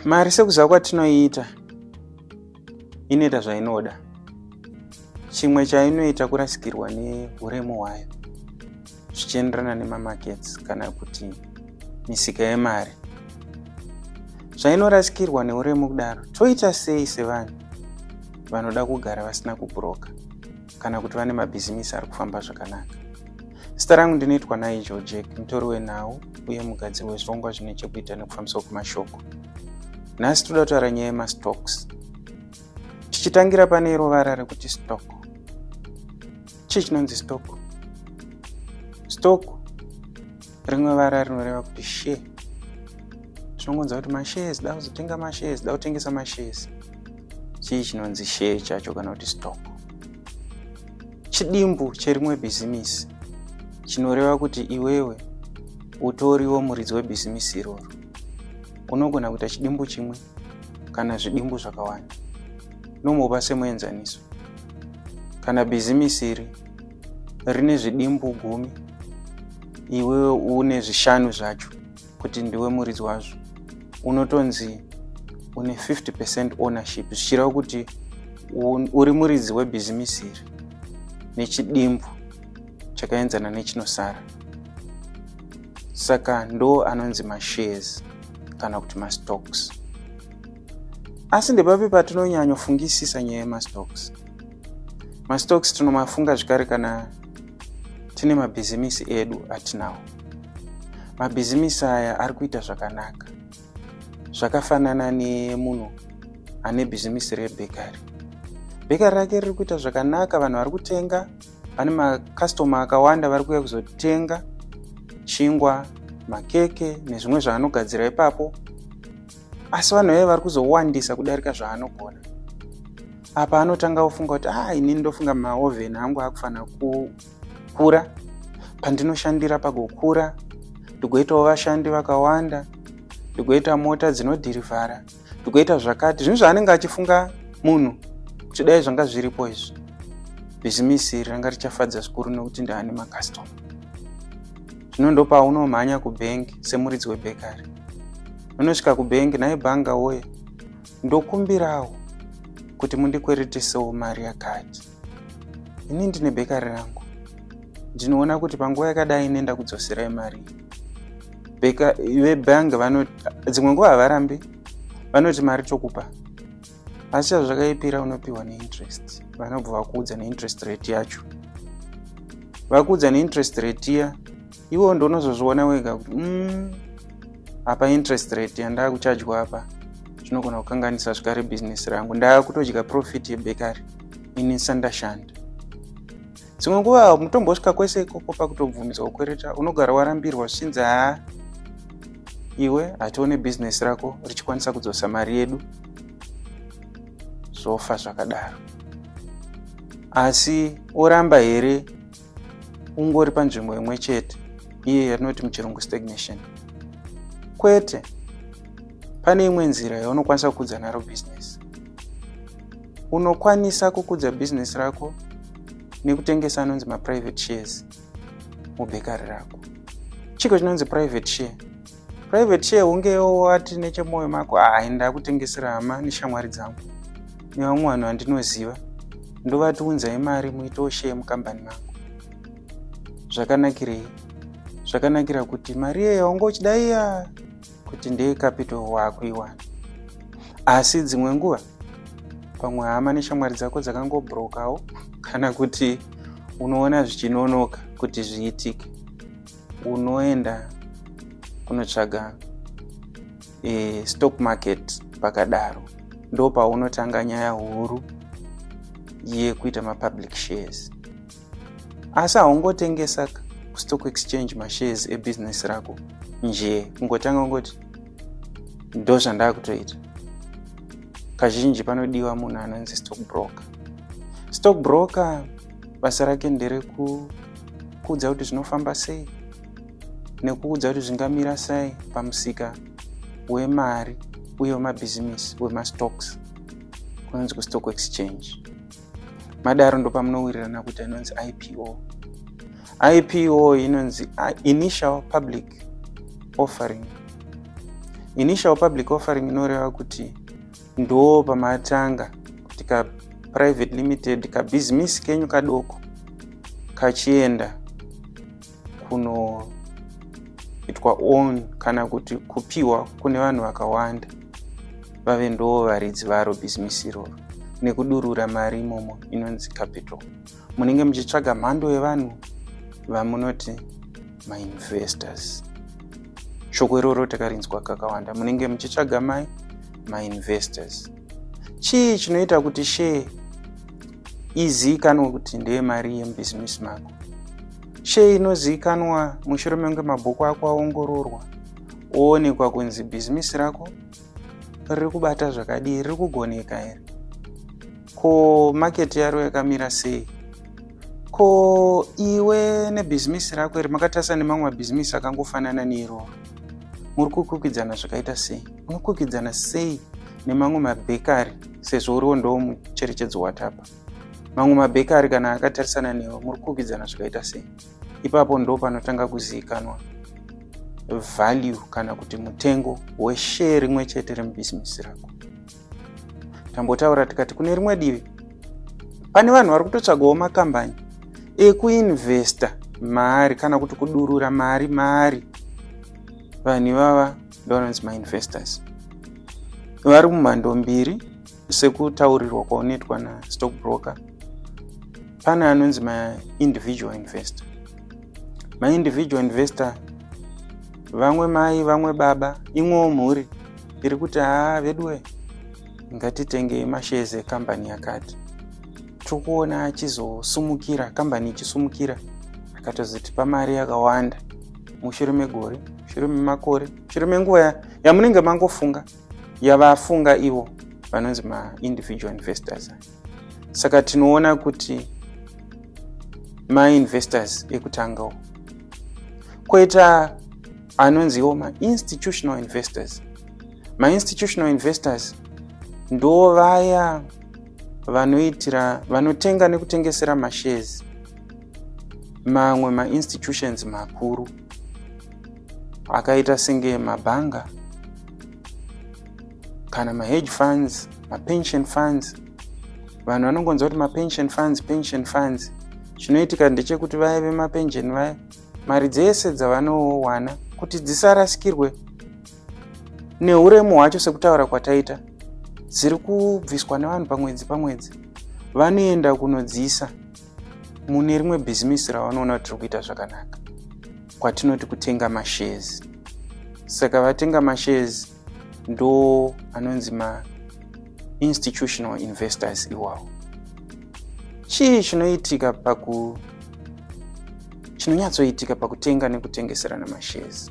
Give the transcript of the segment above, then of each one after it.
mari sekuziva kwatinoiita inoita zvainoda chimwe chainoita kurasikirwa neuremu hwayo zvichienderana nemamakets kana kuti misika yemari zvainorasikirwa neuremu kudaro toita sei sevanhu vanoda kugara vasina kuburoka kana kuti vane mabhizimisi ari kufamba zvakanaka zita rangu ndinoitwa naijo jack mutori wenhau uye mugadziri wezvirongwa zvine chekuita nekufambiswa kwemashoko nhasi toda kutaura nyaya yemastocks tichitangira pane rovara rekuti stock chii chinonzi stock stock rimwe vara rinoreva kuti share tinongonzwa kuti mashares da kuzotenga mashares da kutengesa mashares chii chinonzi share chacho kana kuti stock chidimbu cherimwe bhizimisi chinoreva kuti iwewe utoriwo muridzi webhizimisi iroro unogona kuita chidimbu chimwe kana zvidimbu zvakawanda nomopa semuenzaniso kana bhizimisi iri rine zvidimbu gumi iwewe une zvishanu zvacho kuti ndiwe muridzi wazvo unotonzi une 50 percent ownership zvichireva kuti uri muridzi webhizimisi iri nechidimbu chakaenzana nechinosara saka ndo anonzi mashares kana kuti mastocks asi ndepapi patinonyanyofungisisa nyaya yemastocks mastocks tinomafunga zvekare kana tine mabhizimisi edu atinawo mabhizimisi aya ari kuita zvakanaka zvakafanana nemunhu ane bhizimisi rebhekari bhekari rake riri kuita zvakanaka vanhu vari kutenga pane makastoma akawanda vari kuuya kuzotenga chingwa makeke nezvimwe zvaanogadzira ipapo asi vanhu vaye vari kuzowandisa kudarika zvaanogona apa anotanga ofunga kuti a ah, inini ndofunga maoven angu akufanira kukura pandinoshandira pagokura ndigoitawo vashandi vakawanda ndigoita mota dzinodhirivhara tikuita zvakati zvinhu zvaanenge achifunga munhu kuti dai zvanga zviripo izvi bhizimisi iri ranga richafadza zvikuru nekuti ndaane makastoma zvino ndopaunomhanya kubhengi semuridzi webhekari unosvika kubhengi naye bhanga woye ndokumbirawo kuti mundikweretisewo mari yakati ini ndine bekari rangu ndinoona kuti panguva yakadai ine ndakudzoserai mari vebhangi vanoti dzimwe nguva havarambi vanoti mari tokupa asi chazvakaipira unopiwa neinterest vanobva vakuudza neinterest rate yacho vakuudza neinterest rate iya iwo ndonozozviona wega kuti mm, apa interest rate yandaa kuchajwa apa zvinogona kukanganisa zvekare bhizinesi rangu ndaa kutodya profit yebekari ini sandashanda dzimwe nguva mutombosvika kwese ikoko pakutobvumidzwa kukwereta unogara warambirwa zvichinzi haa iwe hatione bhizinesi rako richikwanisa kudzosa mari yedu zvofa zvakadaro asi oramba here ungori panzvimbo imwe chete iye yatinoti muchirungu stagnation kwete pane imwe nzira yaunokwanisa kukudza naro bhizinesi unokwanisa kukudza bhizinesi rako nekutengesa anonzi maprivate shares mubhekari rako chiko chinonzi private share private share hunge wati nechemoyo mako hayi ah, ndakutengesera hama neshamwari dzangu nevamwe vanhu vandinoziva ndovati unzai mari muitewo share mukambani mangu zvakanakirei zvakanakira kuti mari iyeyo haunge uchida iya kuti ndeye capital waakuiwana asi dzimwe nguva pamwe hama neshamwari dzako dzakangobrokawo kana kuti unoona zvichinonoka kuti zviitike unoenda kunotsvaga e, stock market pakadaro ndo paunotanga nyaya huru yekuita mapublic shares asi haungotengesa kustock exchange mashares ebusiness rako njee kungotanga kungoti ndo zvandakutoita kazhinji panodiwa munhu anonzi stock broker stock broker basa rake nderekuudza kuti zvinofamba sei nekuudza kuti zvingamira sei pamusika wemari uye wemabhizimisi wemastocks kunonzi kustock exchange madaro ndopamunowirirana kuti anonzi ipo ipo inonzi ah, initial public offering initial public offering inoreva kuti ndoo pamatanga kuti ka private limited kabhizimisi kenyu kadoko kachienda kunoitwa on kana kuti kupiwa kune vanhu vakawanda vave ndoo varidzi varo bhizimisi iroro nekudurura mari imomo inonzi capital munenge muchitsvaga mhando yevanhu vamunoti mainvestors shoko iroro takarinzwa kakawanda munenge muchitsvaga mai mainvestors chii chinoita kuti shee iziikanwe kuti ndeye mari yemubhizimisi mako shee inoziikanwa mushure menge mabhuku ako aongororwa oonekwa kunzi bhizimisi rako riri kubata zvakadii riri kugoneka here ko maketi yaro yakamira sei ko iwe nebhizimisi rako iri makatarisa nemamwe mabhizimisi akangofanana neiroro muri kukwikidzana zvakaita sei unokwikidzana sei nemamwe mabhekari sezvo uriwo ndo mucherechedzo watapa mamwe mabhekari kana akatarisana newe muri kukwikidzana zvakaita sei ipapo ndo panotanga kuzivikanwa value kana kuti mutengo weshare rimwe chete remubhizimisi rako tambotaura tikati kune rimwe divi pane vanhu vari kutotsvagawo makambani ekuinvesta mari kana kuti kudurura mari mari vanhu ivava ndovanonzi mainvestors vari mumhando mbiri sekutaurirwa kwaunoitwa nastock broker pane anonzi maindividual investor maindividual investor vamwe mai vamwe baba imwewo mhuri iri kuti haa veduwe ngatitengei mashezi ekambani yakati tiri kuona achizosumukira kambani ichisumukira akatozotipa mari yakawanda mushure megore mushure memakore mushure menguva yamunenge mangofunga yavafunga ivo vanonzi maindividual investors saka tinoona kuti mainvestors ekutangawo koita anonziwo mainstitutional investors mainstitutional investors ndo vaya vanoitira vanotenga nekutengesera mashares mamwe mainstitutions makuru akaita senge mabhanga kana mahedge funds mapension funds vanhu vanongonzwa kuti mapension funds pension funds chinoitika ndechekuti vaya vemapension vaya mari dzese dzavanowana kuti dzisarasikirwe neuremu hwacho sekutaura kwataita dziri kubviswa nevanhu pamwedzi pamwedzi vanoenda kunodziisa mune rimwe bhizimisi ravanoona kuti tiri kuita zvakanaka kwatinoti kutenga mashares saka vatenga mashares ndo anonzi ma institutional investors iwawo chii chinoitika paku chinonyatsoitika pakutenga nekutengeserana mashares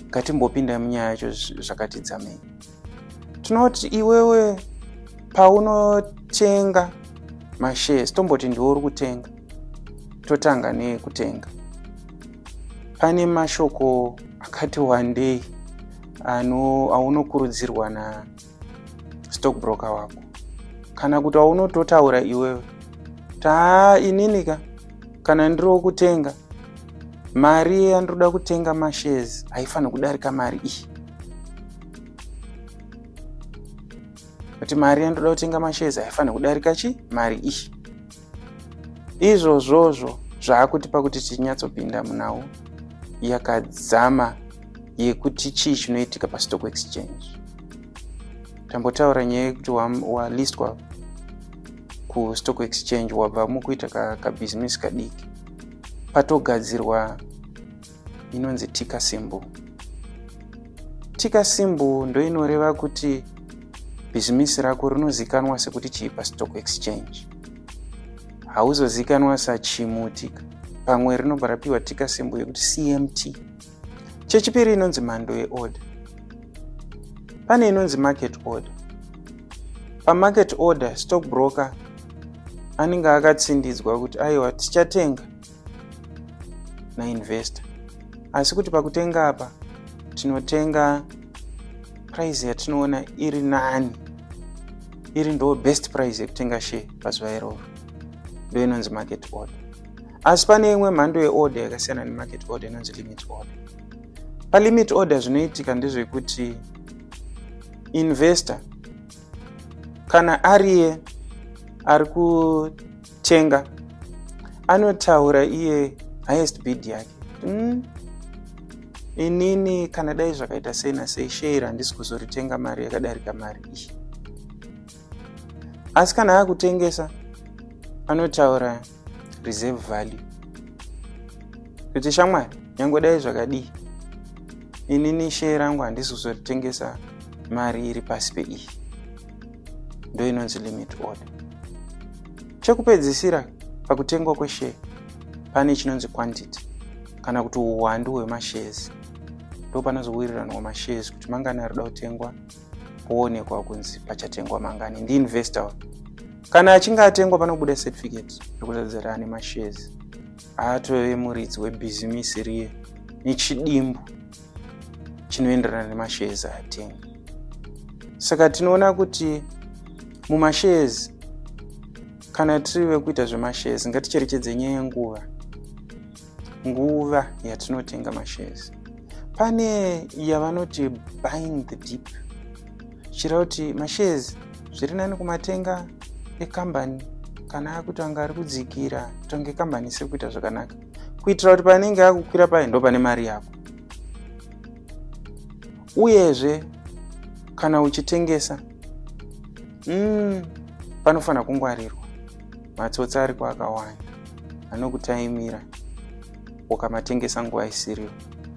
ngatimbopindai munyaya yacho zvakatidzamei tinoti iwewe paunotenga mashares tomboti ndiwo uri kutenga totanga nekutenga pane mashoko akati wandei ano aunokurudzirwa na stock broker wako kana kuti aunototaura iwewe taa inini ka kana ndiri wokutenga mari yandinoda kutenga mashares haifaniri kudarika mari iyi kuti mari yandoda kutenga mashezi haifanira kudarika chi mari iyi izvozvozvo zvaakutipa kuti tinyatsopinda munawo yakadzama yekuti chii chinoitika pastock exchange tambotaura nyaya yekuti walistwa wa kustock exchange wabva mukuita kabhizinesi ka kadiki patogadzirwa inonzi tika simbu tika simbu ndoinoreva kuti bhizimisi rako rinozikanwa sekuti chii pastock exchange hauzozikanwa sachimutika pamwe rinobva rapiwa tika simbu yekuti cmt chechipiri inonzi mhando yeorder pane inonzi market order pamarket order stock broker anenge akatsindidzwa kuti aiwa tichatenga nainvestor asi kuti pakutenga apa tinotenga price yatinoona iri nani iri ndo best price yekutenga share pazuva iroro ndo inonzi market order asi pane imwe mhando yeorder yakasiyana nemarket order inonzi limit order palimit order zvinoitika ndezvekuti investor kana ariye ari ku Chenga anotaura iye highest bid yake mm. inini kana dai zvakaita sei nasei share handisi kuzoritenga mari yakadarika mari iyi asi kana akutengesa anotaura reserve value kuti shamwari nyange dai zvakadii inini share rangu handisi kuzoritengesao mari iri pasi peiyi ndoinonzi limit order chekupedzisira pakutengwa kweshare pane chinonzi quantity kana kuti uwandu hwemashares ndo panozowiriranwa mashares kuti mangani arida kutengwa poonekwa kunzi pachatengwa mangani ndiinvestor kana achinge atengwa panobuda certificate yekuzadzira ane mashares aatove muridzi webhizimisi riye nechidimbu chinoenderana nemashares atenga saka tinoona kuti mumashares kana tiri vekuita zvemashares ngaticherechedze nyaya yenguva nguva yatinotenga mashares pane yavanoti buying the deep zvichireva kuti mashares zviri nani kumatenga ekambani kana akutanga ari kudzikira kutonge kambani isiri kuita zvakanaka kuitira kuti panenge akukwira paye ndo pane mari yako uyezve kana uchitengesa mm, panofanira kungwarirwa matsotsi ari kwaakawanda anokutaimira ukamatengesa nguva isiriyo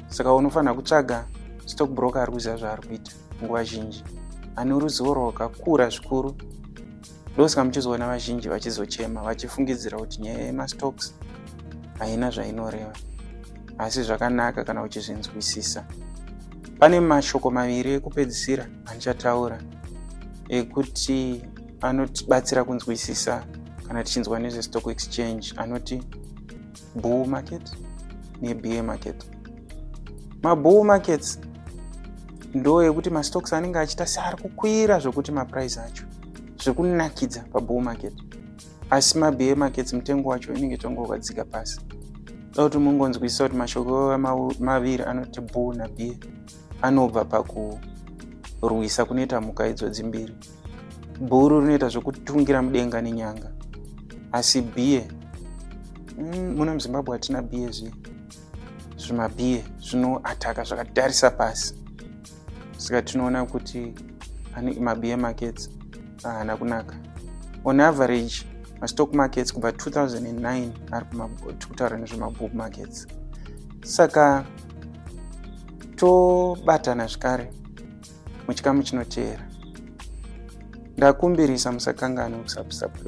saka unofanira kutsvaga stock broker ari kuziva zvaari kuita nguva zhinji ane ruzivo rwakakura zvikuru ndosaka muchizoona vazhinji vachizochema vachifungidzira kuti nyaya yemastocks haina zvainoreva asi zvakanaka kana uchizvinzwisisa pane mashoko maviri ekupedzisira andichataura ekuti anotibatsira kunzwisisa kana tichinzwa nezvestock exchange anoti bull market nebear market mabull markets ndo yekuti mastocks anenge achiita seari kukwira zvekuti maprice acho zvekunakidza pabull market asi mabear markets mutengo wacho inenge tonge wakadzika pasi da kuti mungonzwisisa kuti mashoko maviri anoti bull nabear anobva pakurwisa kunoita mhuka idzodzi mbiri bhuru rinoita zvekutungira mudenga nenyanga asi biye mm, muno muzimbabwe hatina biye zviye zvimabhiye zvinoataka zvakatarisa pasi saka tinoona kuti mabhiye markets haana kunaka on average mastock markets kubva 2009 ari kutaura nezvemabook markets saka tobatana zvekare muchikamu chinoteera ndakumbirisa musakanganwe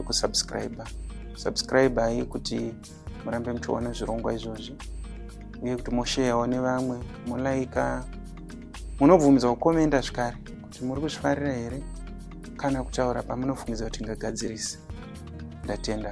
kusubscribe subscribe ayi kuti murambe muchiona zvirongwa izvozvi uye kuti mosheyawo nevamwe molaika munobvumidza kukomenda zvikare kuti muri kuzvifarira here kana kutaura pamunofungiza kuti ngagadzirise ndatenda